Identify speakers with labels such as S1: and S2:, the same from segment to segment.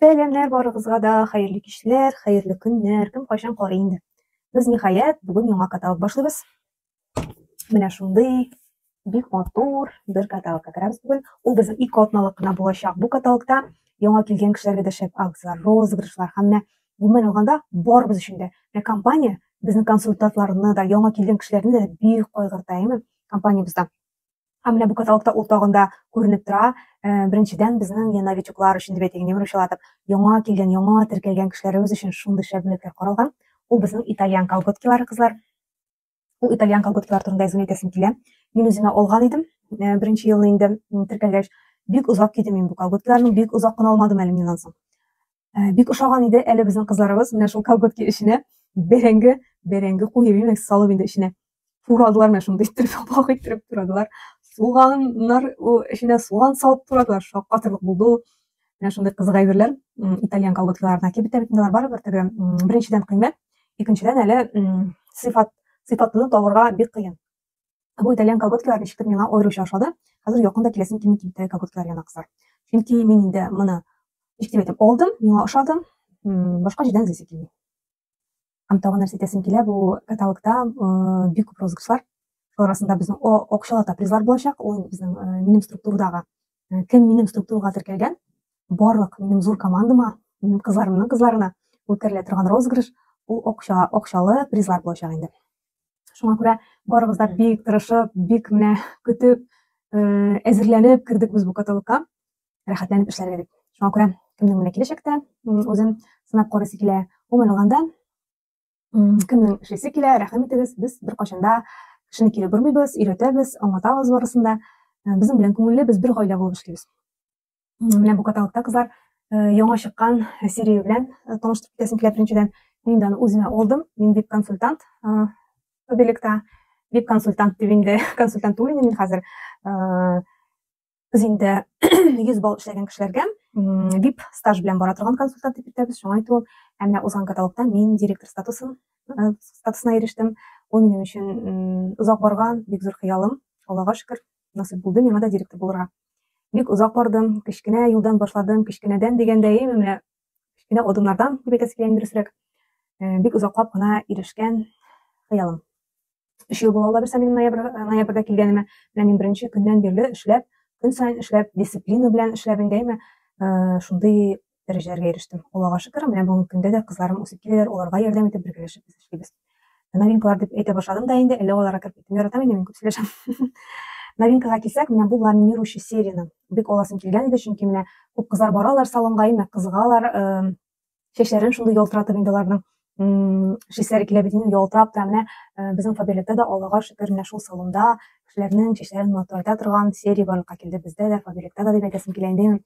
S1: Сәламнәр барыгызга да, хәерле кичләр, хәерле көннәр, кем кайчан карый инде. Без ниһаять бүген яңа каталог башлыйбыз. Менә шундый бик матур бер каталогка керәбез бүген. Ул безнең ике атналык кына булачак. Бу каталогта яңа килгән кешеләргә дә шәп акцияләр, розыгрышлар һәм менә гомумән алганда барыбыз өчен дә. Менә компания безнең консультантларны да, яңа килгән кешеләрне дә бик кайгырта, әйме? Компаниябездә Ә менә бу каталогта ул тагын да күренеп тора. Э, беренчедән, безнең я новичоклар өчен дип әйтик, немер учылатып, яңа килгән, яңа теркәлгән кешеләребез өчен шундый шәп бүләкләр каралган. Ул безнең итальян колготкилары, кызлар. Ул итальян колготкилар турында әзер әйтәсем килә. Мин үземә алган идем, э, беренче елны инде теркәлгәч. Бик озак кидем мин бу колготкиларны, бик озак кына алмадым әле мин ансын. Ә, бик ошаган иде әле безнең кызларыбыз менә шул колготки эченә бәрәңге бәрәңге куеп имәк салып инде эченә турадылар менә шундый иттереп апак иттереп турадылар суганнар эченә суган салып турадылар шаккатырлык булды ул менә шундый кызык әйберләр итальян колготкаларына кибет тә бит барыбер теге беренчедән кыйммәт икенчедән әле сыйфат сыйфатны табырга бик кыен Бу итәлгән колготкалар ничектер миңа аеруча ошады. Хәзер якын да киләсем килми кимтә колготкалар янына кызлар. Чөнки мин инде моны ничек дип әйтәм, алдым, миңа ошады, башка җирдән эзлисе килми. Һәм тагын нәрсә әйтәсем килә, бу каталогта бик күп розыгрышлар. Шулар арасында безнең акчалата призлар булачак, ул безнең минем структурадагы э, кем минем структурага теркәлгән барлык минем зур командама минем кызларымның кызларына үткәрелә торган розыгрыш ул акча акчалы призлар булачак инде шуңа күрә барыбыз да бик тырышып бик менә көтеп э, әзерләнеп кердек без бу каталогка рәхәтләнеп эшләргә дип шуңа күрә кемнең менә киләчәктә үзен сынап карыйсы килә гомумән алганда кемнең эшлисе килә рәхим итегез без беркайчан да кешене кире бормыйбыз өйрәтәбез аңлатабыз барысын да э, безнең белән күңелле без бер гаилә булып эшлибез менә бу каталогта кызлар э, яңа чыккан серия белән э, таныштырып китәсем килә беренчедән мин дә аны үземә алдым мин вип консультант объектта вип консультант дип инде консультант түгел инде мин хәзер Без инде 100 балл эшләгән кешеләргә VIP стаж белән бара торган консультант дип әйтәбез. Шуңа әйтү, ә менә узган каталогта мин директор статусын э, статусына ирештем. Ул минем өчен озак барган бик зур хыялым. Аллага шөкер, насыйп булды миңа да директор булырга. Бик озак бардым, кечкенә юлдан башладым, кечкенәдән дигәндәй, менә кечкенә адымнардан дип әйтәсе килә инде дөресрәк. Э, бик озаклап кына ирешкән хыялым. Өч ел була алабыз минем ноябрьдә килгәнемә. Менә мин беренче көннән бирле эшләп, көн саен эшләп, дисциплина белән эшләп инде әйме шундый дәрәҗәләргә ирештем. Аллага шөкер, менә бүгенге көндә дә кызларым үсеп киләләр, аларга ярдәм итеп бергәләшеп без эшлибез. Новинкалар дип әйтә башладым да инде, әллә аларга кереп киттем, яратам инде мин күп сөйләшәм. Новинкага килсәк, менә бу ламинирующий серияне бик аласым килгән иде, чөнки менә күп кызлар баралар салонга, әйме кызыгалар, чәчләрен шундый ялтыратып инде аларның чәчләре килә бит инде ялтырап та менә безнең фаберлектә дә аллага шөкер менә шул салонда кешеләрнең чәчләрен матурайта торган серия барлыкка килде бездә дә фаберлектә дә дип әйтәсем килә инде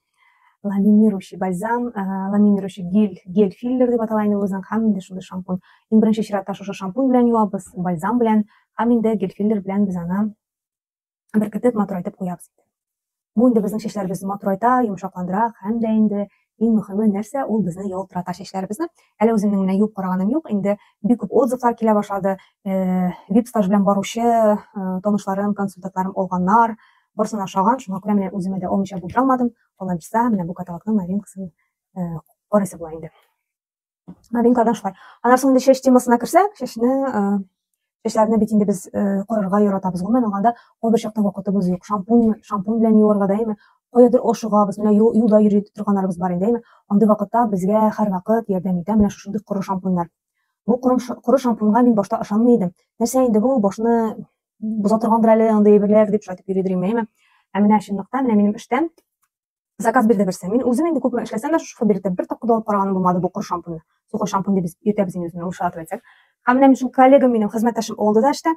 S1: ламинирующий бальзам ламинирующий гель гель филлер дип атала инде үзенең һәм инде шундый шампунь иң беренче чиратта шушы шампунь белән юабыз бальзам белән һәм инде гель филлер белән без аны беркетеп матурайтып куябыз инде. Бу инде безнең чәчләребезне матурайта, йомшакландыра һәм дә инде иң мөһиме нәрсә, ул безне ялтырата чәчләребезне. Әле үземнең менә юып караганым юк, инде бик күп отзывлар килә башлады. Э, Вип-стаж белән баручы э, танышларым, консультантларым алганнар. Барысына ошаган, шуңа күрә менә үземә дә алмыйча булдыра алмадым. Алла бирса, менә бу каталогның новинкасын э, карыйсы була инде. новинкадан шулай анан соң инде чәч темасына керсәк чәчне чәчләрне бит инде без корырга яратабыз гомумән алганда кайбер чакта вакытыбыз юк шампунь шампунь белән юарга да әйме каядыр ашыгабыз менә юлда йөри торганнарыбыз бар инде әйме андый вакытта безгә һәрвакыт ярдәм итә менә шушындый коры шампуньнар бу коры шампуньга мин башта ышанмый идем нәрсә инде бу башны боза торгандыр әле андый әйберләр дип шайтып йөри идем әйме ә менә чынлыкта менә минем эштән Заказ бирде берсе. Мин үзем инде күпме эшләсәм дә, шушы фабрикта бер тапкыр да алып караганым булмады бу кор шампуньны. Сухой шампунь дип без йөртәбез инде үзенә урышлатып әйтсәк. Һәм менә мин коллегам минем, хезмәттәшем алды да эштә.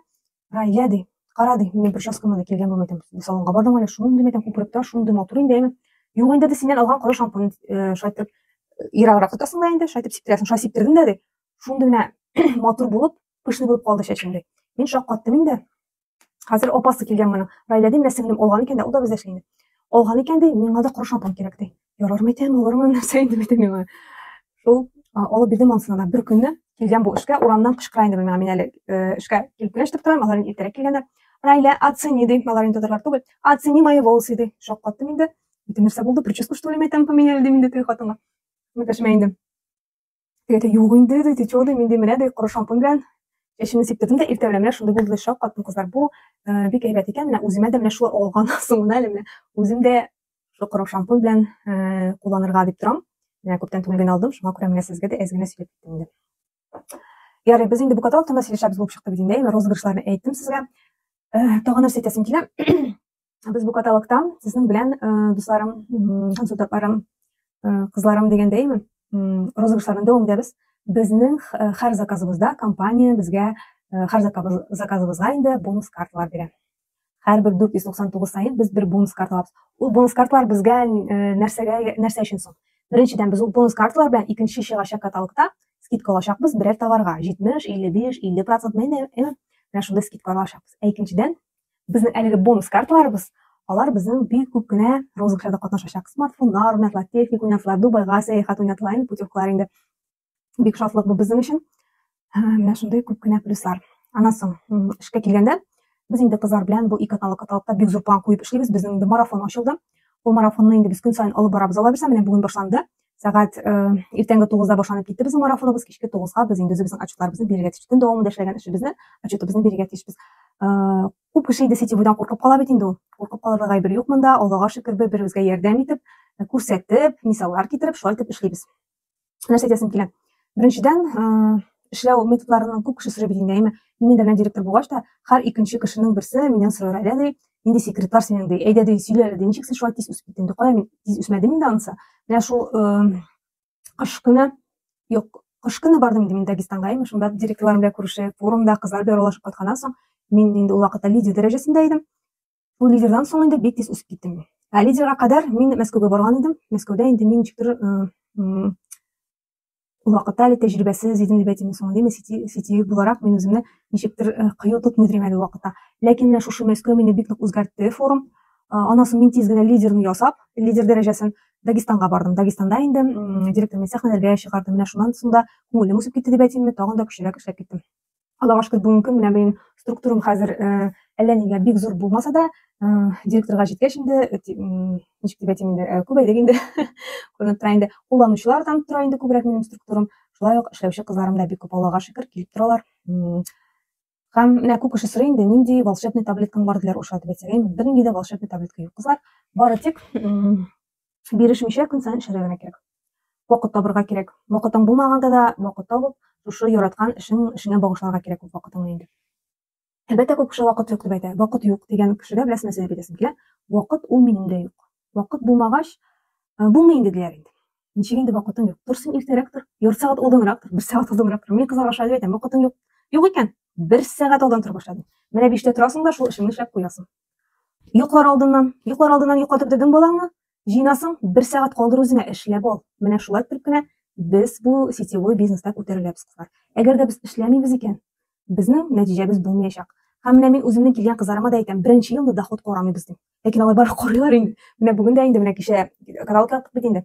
S1: Рая ди, кара ди, мин прическама да килгән булмый икән. Бу салонга бардым әле, шундый мәйтәм күперектә, шундый матур инде, әйме. Юк инде ди, синнән алган коры шампунь э, шайтып э, ераграк тотасың да инде, шайтып сиптерәсең. Шулай сиптердем дә ди. Шундый менә матур булып, пышный булып калды чәчем ди. Мин шаккаттым инде. Хәзер апасы килгән моның. Райда дим, нәрсә белән алган икән дә, ул да бездә эшли инде. Алган икән ди, миңа да коры шампунь кирәк ди. Ярармы икән, алырмы, нәрсә инде бит миңа. Шул алып бирдем анысына да. Бер көнне килгән бу эшкә, урамнан кычкыра инде миңа. Мин әле э, эшкә килеп кенә ишетеп торам, алар иртәрәк килгәннәр. Райля, оцени ди, алар инде татарлар түгел. Оцени мои волосы ди. Шаккаттым инде. Бөтен нәрсә булды, прическа что ли, мәйтәм, поменяли ди инде теге хатынга. Мәтәшмә инде. Теге юк инде, ди, течо, ди, мин ди, менә ди, коры шампунь белән чәчемне сиптердем дә, иртә белән менә шундый булды, шок каттым, кызлар. Бу э, бик әйбәт икән, менә үземә дә менә шулай алган соңына әле менә үзем дә шул коры шампунь белән э, кулланырга дип торам. Менә күптән түгел генә алдым, шуңа күрә менә сезгә дә әз генә сөйләп киттем инде. Ярый, без инде бу каталогтан да сөйләшәбез булып чыкты бит инде, розыгрышларны әйттем сезгә. Э, тагын нәрсә әйтәсем килә. без бу каталогта сезнең белән дусларым, консультантларым, кызларым дигәндәйме, розыгышларны дәвам итәбез. Безнең һәр заказыбызда компания безгә һәр заказыбызга инде бонус карталар бирә. Һәрбер 499 саен без бер бонус карта алабыз. Ул бонус карталар безгә нәрсәгә, нәрсә өчен соң? Беренчедән, без ул бонус карталар белән икенче чыгачак каталогта скидка алачакбыз берәр товарга. 70, 55, 50% менә шундый скидка алачакбыз. Ә икенчедән, Безнең әлеге бонус карталарыбыз, алар безнең бик күп кенә розыгышларда катнашачак. Смартфоннар уйнатыла, техник уйнатыла, Дубайга сәяхәт уйнатыла, инде путевкалар инде. Бик шатлык бу безнең өчен. Менә шундый күп кенә плюслар. Аннан соң эшкә килгәндә, без инде кызлар белән бу ике атналык аталыкта бик зур план куеп эшлибез. Безнең инде марафон ачылды. Ул марафонны инде без көн саен алып барабыз. Алабыз, менә бүген башланды. сәгать э, иртәнге тугызда башланып китте безнең марафоныбыз кичке тугызга без инде үзебезнең отчетларыбызны бирергә тиеш төн дәвамында эшләгән эшебезне отчетыбызны бирергә тиешбез э, күп кеше инде сетевойдан куркып кала бит инде ул куркып калырга гайбер юк монда аллага шөкер бер беребезгә ярдәм итеп э, күрсәтеп мисаллар китереп шулай итеп эшлибез нәрсә әйтәсем килә Беренчедән, эшләү методларының күп кеше сорый бит инде, әйме? Мин инде менә директор булгач та, һәр икенче кешенең берсе миннән сорар әле, ди, нинди секретлар синең, ди, әйдә, ди, сөйлә әле, ди, ничек син шулай тиз үсеп киттең, ди, кая мин тиз үсмәдем инде анысы. Менә шул кыш көне, юк, кыш көне бардым инде мин Дагестанга, әйме, шунда директорларым белән күрешеп, форумда кызлар белән аралашып кайтканнан соң, мин инде ул вакытта лидер дәрәҗәсендә идем. Ул лидердан соң инде бик тиз үсеп киттем. Ә лидерга кадәр мин Мәскәүгә барган идем. Мәскәүдә инде мин ничектер ул вакытта әле тәҗрибәсез идем дип әйтимме соң димме сетевик буларак мин үземне ничектер э, кыю тотмый идем әле вакытта ләкин менә шушы мәскәү мине бик нык үзгәртте форум э, аннан соң мин тиз генә лидерны ясап лидер дәрәҗәсен дагестанга бардым дагестанда инде директор мин сәхнәләргә чыгардым менә шуннан соң да күңелем үсеп китте дип әйтимме тагын да көчлерәк эшләп киттем Аллага шөкер, бүгенге көн менә минем структурам хәзер э, әллә нигә бик зур булмаса да, э, директорга җиткәч инде, э, ничек дип әйтим инде, күбәйдек инде. Күренеп тора инде. Кулланучылар да тора инде күбрәк минем структурам. Шулай ук эшләүче кызларым да бик күп, Аллага шөкер, килеп торалар. Һәм менә күп кеше сорый инде, нинди волшебный таблеткаң бар диләр ошатып әйтсәгәймен. Бернинди дә волшебный таблетка юк, кызлар. Бары тик Бирешмичә көн саен эшләргә генә кирәк. Вакыт табырга кирәк. Вакытың булмаганда да вакыт табып, шушы яраткан эшең, эшеңә багышларга кирәк күп вакытыңны инде. Әлбәттә, күп кеше вакыт юк дип әйтә. Вакыт юк дигән кешегә беләсез нәрсә дип әйтәсем килә? Вакыт ул минем дә юк. Вакыт булмагач, э, булмый инде диләр инде. Ничек инде вакытың юк? Торсын иртәрәк тор, ярты сәгать алданрак тор, бер сәгать алданрак тор. Мин кызларга шулай дип әйтәм, вакытың юк. Юк икән, бер сәгать алдан тора башладың. Менә биштә торасың да шул эшеңне эшләп куясың. Йоклар алдыннан, йоклар алдыннан йоклатып дөрдең балаңны, җыйнасың, бер сәгать калдыр үзеңә, эшләп ал. Менә шулай итеп кенә без бу сетевой бизнеста күтәреләбез, кызлар. Әгәр дә без эшләмибез икән, безнең нәтиҗәбез булмаячак. Һәм менә мин үземнең килгән кызларыма да әйтәм, беренче елны доход карамыйбыз дим. Ләкин алар барып карыйлар инде. Менә бүген дә инде, менә кичә кадалка яптык бит инде.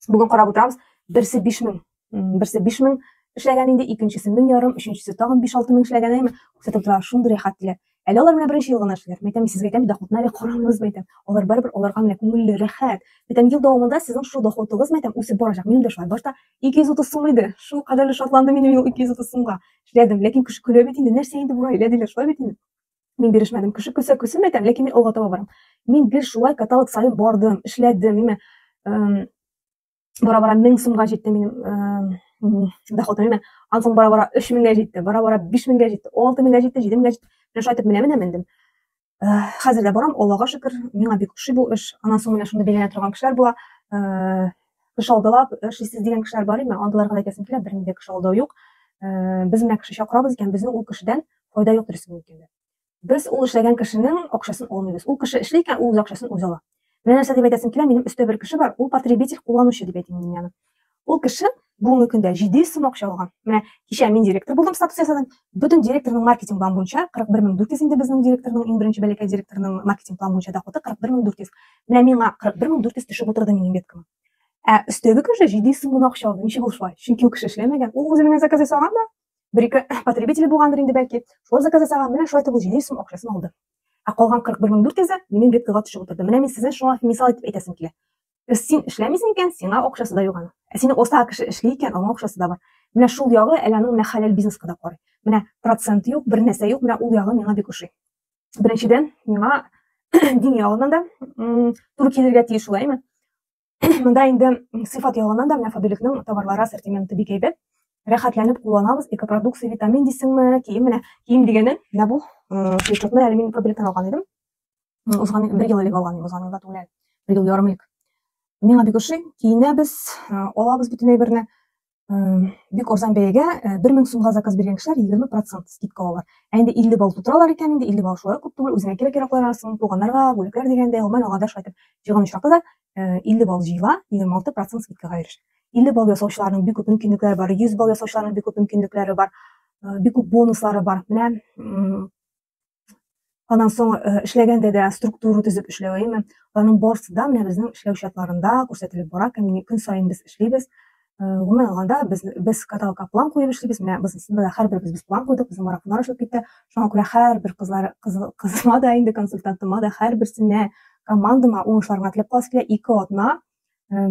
S1: Бүген карап утырабыз, берсе 5000, берсе 5000 эшләгән инде, икенчесе 1000 ярым, өченчесе тагын 5-6 мең эшләгән, әйме? Күрсәтеп тора, шундый рәхәт диләр. Әле алар менә беренче ел гына эшлиләр. Мәйтәм, сез әйтәм, доходны әле карамагыз, мәйтәм. Алар барыбер аларга менә күңелле, рәхәт. Мәйтәм, ел дәвамында сезнең шул доходыгыз, мәйтәм, үсеп барачак. Минем дә шулай. Башта 230 сум иде. Шул кадәрле шатландым мин ул 230 сумга. Эшләдем, ләкин кеше көлә бит инде, нәрсә инде бу гаилә диләр, шулай бит инде. Мин бирешмәдем. Кеше көлсә көлсен әйтәм, ләкин мин алга таба барам. Мин гел шулай каталог саен бардым, эшләдем. Мин бара-бара 1000 сумга җитте минем доходым. Мин ансын бара-бара 3000гә җитте, бара-бара 5000гә җитте, 6000гә җитте, 7000гә җитте. Менә шайтып менә менә мендем. Хәзер дә барам, Аллага шөкер, миңа бик ошый бу эш. Анан соң менә шундый бәйләнә торган кешеләр була. Кеше алдылап, эшсез дигән кешеләр бар име? Алдыларга әйтәсем килә, бернинди кеше алдау юк. Э, без менә кеше чакырабыз икән, безнең ул кешедән файда юк дөресен әйткәндә. Без ул эшләгән кешенең акчасын алмыйбыз. Ул кеше эшли икән, ул үз акчасын үзе ала. Менә нәрсә дип әйтәсем килә, минем өстә бер кеше бар, ул потребитель, кулланучы дип әйтим мин аны. Ул кеше бүгенге көндә 700 сум акча алган. Менә кичә мин директор булдым, статус ясадым. Бөтен директорның маркетинг план буенча 41400 инде безнең директорның, иң беренче бәләкәй директорның маркетинг план буенча доходы 41400. Менә миңа 41400 төшеп утырды минем беткама. Ә өстәге кеше 700 сум гына акча алды. Ничек ул шулай? Чөнки ул кеше эшләмәгән. Ул үзе менә заказ ясаган да, бер-ике потребителе булгандыр инде бәлки. Шулар заказ ясаган, менә шулай итеп ул 700 сум акчасын алды. Ә калган 41400-е минем беткага төшеп утырды. Менә мин сезне шуңа мисал итеп әйтәсем килә. Без син эшләмисең икән, сиңа акчасы да юган. Ә сине оста кеше эшли икән, аңа акчасы да бар. Менә шул ягы әле аның менә хәләл бизнеска да карый. Менә процент юк, бер нәрсә юк, менә ул ягы миңа бик ошый. Беренчедән, миңа дин ягыннан да туры килергә тиеш шулаймы? Монда инде сыйфат ягыннан да менә Фабиликның товарлары ассортименты бик әйбәт. Рәхәтләнеп кулланабыз. Экопродукция, витамин дисеңме, кием менә. Кием дигәнем, менә бу свитшотны әле мин Фабиликтан алган идем. Узган бер ел элек алган идем, узган елда түгел. Бер ел ярым элек. Миңа бик ошый. Киенәбез, алабыз бөтен әйберне. бик арзан бәягә э, бер мең сумга заказ биргән кешеләр егерме процент скидка алалар ә инде илле балл тутыралар икән инде илле балл шулай күп түгел үзеңә кирәк кирәкләр арасың туганнарга бүләкләр дигәндә гомумән алга да шулай итеп җыйган очракта да э, илле балл җыела егерме алты процент скидкага ирешә илле балл ясаучыларның бик күп мөмкинлекләре бар йөз балл ясаучыларның бик күп мөмкинлекләре бар э, бик күп бонуслары бар менә Анан соң э, эшләгәндә дә структура төзеп эшләвеме, аның барысы да менә безнең эшләү чатларында күрсәтелеп бара, көнне көн саен без эшлибез. Э, гомумән алганда без без каталка план куеп эшлибез. Менә без менә һәрбер без план куйдык, безнең марафоннар эшләп китте. Шуңа күрә һәрбер кызлар кызыма да инде консультантыма да һәрберсенә командама уңышларга теләп каласы килә. Ике атна э,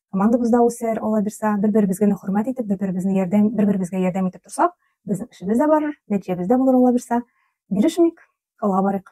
S1: командабыз да үсәр, алла бирсә, бер-беребез генә хөрмәт итеп, бер-беребезне ярдәм, бер-беребезгә ярдәм итеп торсак, безнең эшебез дә барыр, нәтиҗәбез дә булыр, алла бирсә. Бирешмик, алга барыйк.